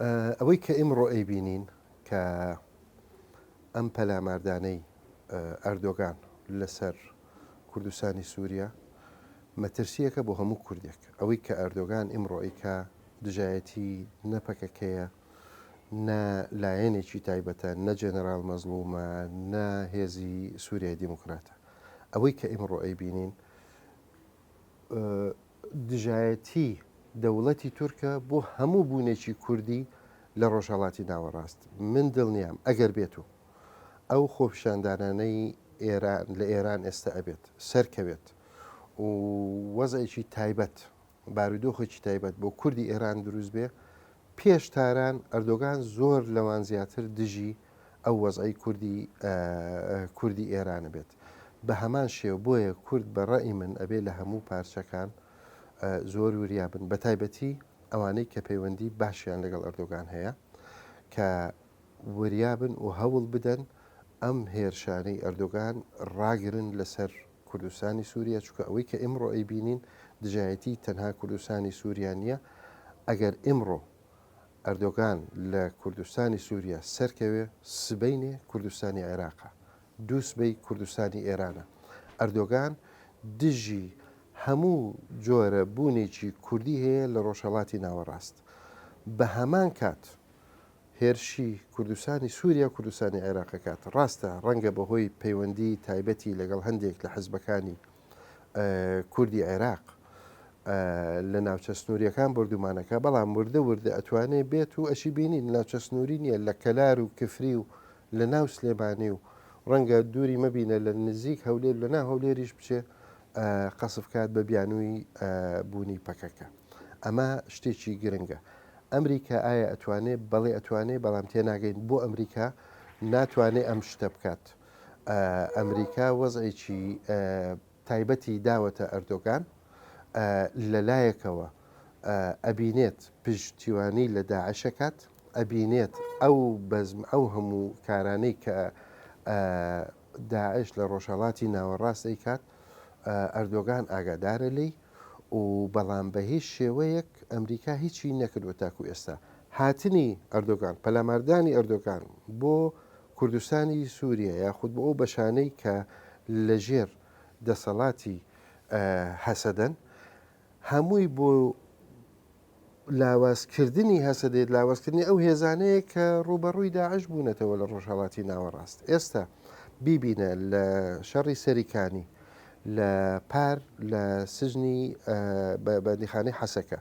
ئەوەی کە ئیمڕۆ ئەیبینین کە ئەم پەلاماردانەی ئەردۆگان لەسەر کوردستانی سووریا مەترسییەکە بۆ هەموو کوردێک ئەوەی کە ئەردۆگان ئیمڕۆ ئەیکا دژایەتی نە پەکەکەیە نە لایەنێکی تایبەتە نە جەنەرال مەزڵومە نە هێزی سووریای دیموکراتە ئەوەی کە ئیمڕۆ ئەیبینین دژایەتی دەوڵەتی تورکە بۆ هەموو بوونێکی کوردی لە ڕۆژهڵاتی ناوەڕاست من دڵنیام ئەگەر بێت و ئەو خۆپشاندانانەی ئێران لە ئێران ئێستا ئەبێت سەرکەوێت و وەزێکی تایبەت بارودۆخێکی تایبەت بۆ کوردی ئێران دروست بێ پێش تاران ئەردۆگان زۆر لەوان زیاتر دژی ئەو وەزعەی کوردی کوردی ئێرانە بێت بە هەمان شێو بۆیە کورد بە ڕێی من ئەبێ لە هەموو پارچەکان زۆر وریابن بە تایبەتی ئەوانەی کە پەیوەندی باشیان لەگەڵ ئەردۆگان هەیە کە وریابن و هەوڵ بدەن ئەم هێرشانەی ئەردۆگان ڕاگرن لەسەر کوردستانی سووریا چکە ئەوەی کە ئمڕۆ ئەی بینین دژایەتی تەنها کوردستانی سووریا نییە ئەگەر ئمڕۆ ئەردۆگان لە کوردستانی سوریا سەرکەوێ سبەینێ کوردستانی عێراقە دوو سبەی کوردستانی ئێرانە ئەردۆگان دژی هەموو جۆرە بوونێکی کوردی هەیە لە ڕۆژهڵاتی ناوەڕاست بە هەمان کات هێرشی کوردستانی سووریا و کوردستانی عێراقەکات ڕاستە ڕەنگە بەهۆی پەیوەندی تایبەتی لەگەڵ هەندێک لە حزبەکانی کوردی عێراق لە ناوچە سنووریەکان بردومانەکە بەڵام وردە وردە ئەتوانێ بێت و ئەشی بینی ناوچە سنووری نیە لە کەلار و کفری و لە ناو سلێمانی و ڕەنگە دووری مەبینە لە نزیک هەولێر لە ناو هەولێریش بچێ قەسف کات بە بیانووی بوونی پەکەکە ئەمە شتێکی گرنگە ئەمریکا ئایا ئەتوانێت بەڵێ ئەتوانێت بەڵام تێناگەین بۆ ئەمریکا ناتوانێت ئەم شتە بکات ئەمریکا وەزعێکی تایبەتی داوەتە ئەردۆگان، لەلایەکەوە ئەبینێت پشتیوانی لە داعش ئەکات، ئەبینێت ئەو بەزم ئەو هەموو کارانەی کە داعش لە ڕۆژهەڵاتی ناوەڕاست ئەیکات ئەردۆگان ئاگادارە لی و بەڵام بە هیچ شێوەیەک ئەمریکا هیچی نەکردوە تاکو ئێستا هاتنی ئەردۆگان پەلاماردانی ئەردۆگان بۆ کوردستانی سووریە یاخود بۆ ئەو بەشانەی کە لە ژێر دەسەڵاتی هەسەدەن هەمووی بۆ لاوازکردنی هەسەدێت لاوازکردنی ئەو هێزانەیە کە ڕوبەڕووی داعش بوونەتەوە لە ڕۆژهڵاتی ناوەڕاست ئێستا بیبینە لە شەڕی سەریکانی لە پار لە سژنی بەندیخانەی حەسەکە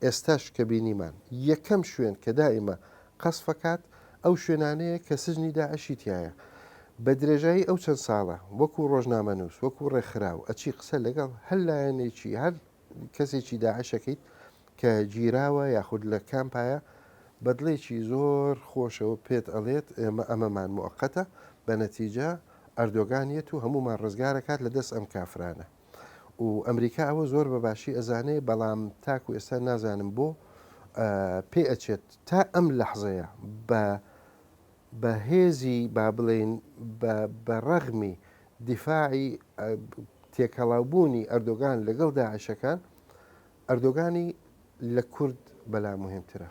ئێستاش کە بینیمان یەکەم شوێن کە دائیمە قەسفەکات ئەو شوێنانەیە کە سجنی داعشی تیایە بە درێژایی ئەو چەند ساڵە وەکو ڕۆژنامەنووس وەکو ڕێکخراو ئەچی قسە لەگەڵ هەر لایەنێکی هەر کەسێکی داعشەکەیت کە گیراوە یاخود لە کامپایە بەدڵێکی زۆر خۆشەوە پێت ئەڵێت ئێمە ئەمەمان موقتە بە نەتیجە ئەردۆگانیەت و هەمومان ڕزگارەکات لە دەست ئەم کافرانە. و ئەمریکا ئەوە زۆر بە باشی ئەزانێ بەڵام تاکو ئێستا نازانم بۆ پێ ئەچێت تا ئەم لەحزەیە بە بە هێزی با بڵێن بە ڕەغمی دیفاعی تێکەڵاوبوونی ئەردۆگان لەگەڵ داعشەکان ئەردۆگانی لە کورد بەلا مهمترە